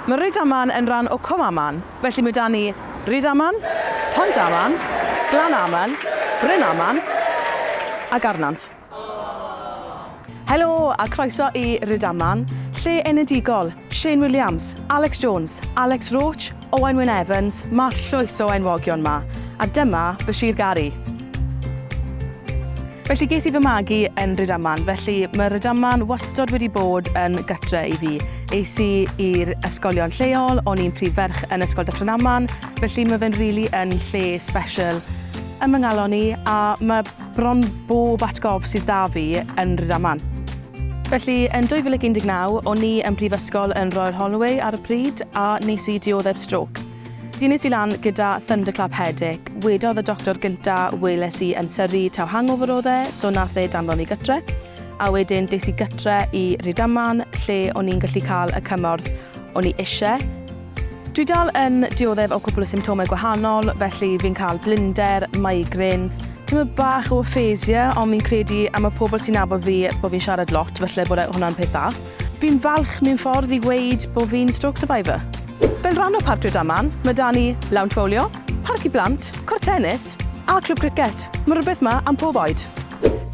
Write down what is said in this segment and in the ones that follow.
Mae Rydaman yn ran o Cwm Aman, felly mae 'da ni Rydaman, Pont Aman, Glan Aman, Bryn Aman a Garnant. Helo a croeso i Rydaman, lle enedigol, Shane Williams, Alex Jones, Alex Roach, Owain Wyn Evans, mae llwyth o enwogion 'ma, a dyma fy sir gar i. Felly ges i fy magu yn Rydaman, felly mae Rydaman wastod wedi bod yn gytre i fi. Es i i'r ysgolion lleol, o'n i'n prif ferch yn Ysgol Dyffryn Aman, felly mae fe'n rili yn lle sbesial yn fy nghalon i a mae bron bob atgof sydd 'da fi yn Rydaman. Felly, yn 2019, o'n i yn Brifysgol yn Royal Holloway ar y pryd a nes i dioddef strôc. Dynes i lan gyda thunderclap headache. Wedodd y doctor gynta weles i yn Surrey taw hangover oedd e, so nath e danfon fi gytre. A wedyn des i gytre i Rhydaman lle o'n i'n gallu cael y cymorth o'n i isie. Dwi dal yn dioddef o cwpl o symptomau gwahanol, felly fi'n cael blinder, migraines, tymed bach o aphasia ond fi'n credu am y pobl sy'n nabod fi bod fi'n siarad lot falle bod e hwnna'n peth dda. Fi'n falch mewn ffordd i weud bo fi'n stroke survivor. Fel rhan o Parc Rydaman, ma da ni lawnt fowlio, parc i blant, cort tenis a clwb cricet. Ma rwbeth ma am pob oed.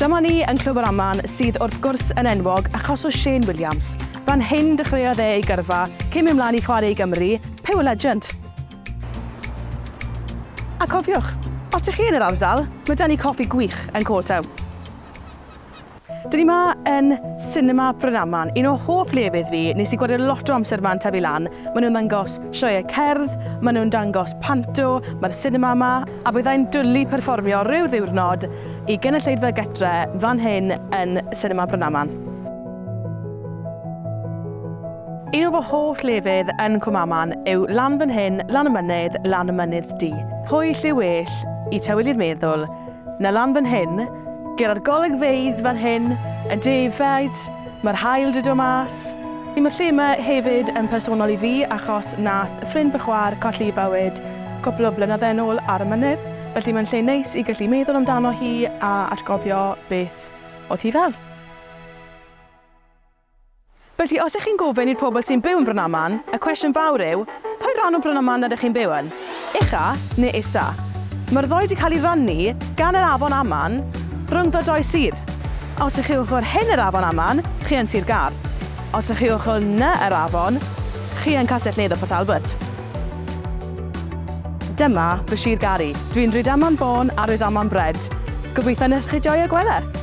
Dyma ni yn Clwb yr Aman sydd wrth gwrs yn enwog achos o Shane Williams. Fan hyn dechreuodd e ei gyrfa cyn mynd mlaen i chwarae i Gymru, Pugh a legend. A cofiwch, os dych chi yn yr ardal, ma da ni coffi gwych yn Coal Town. Dyn ni ma yn Cinema Brynaman, un o hoff lefydd fi, nes i gwario lot o amser yma yn tyfu lan, maen nhw'n ddangos sioeau cerdd, maen nhw'n dangos panto, mae'r sinema yma, a byddai'n dwli perfformio rhyw ddiwrnod i gynulleidfa gytre fan hyn yn Cinema Brynaman. Un o fy holl lefydd yn Cwmaman yw lan fan hyn, lan y mynydd, lan y mynydd du. Pwyll yw well, i tywydd i'r meddwl, 'na lan fan hyn, ger yr golygfeydd fan hyn, y defaid, ma'r haul 'di do mas, i ma'r lle 'ma hefyd yn personol i fi achos nath ffrind fy chwa'r colli 'i bywyd cwpl o blynydde'n ôl ar y mynydd, felly mae'n lle neis i gallu meddwl amdano hi a atgofio beth o'dd hi fel. Felly, os ych chi'n gofyn i'r pobl sy'n byw yn Brynaman, y cwestiwn fawr yw, pa ran o Brynaman rydych chi'n byw yn? Ucha neu isa? Mae'r ddou 'di cael eu rhannu gan yr afon Aman rhyngddo dou sir. Os ych chi ochr hyn yr afon Aman, chi yn Sir Gâr. Os ych chi ochr 'na yr afon, chi yn Castell-nedd y Port Albert. Dyma fy Sir Gari. Dwi'n Rhydaman born a Rhydaman bred. Gobeithio wneith chi joio gwedde!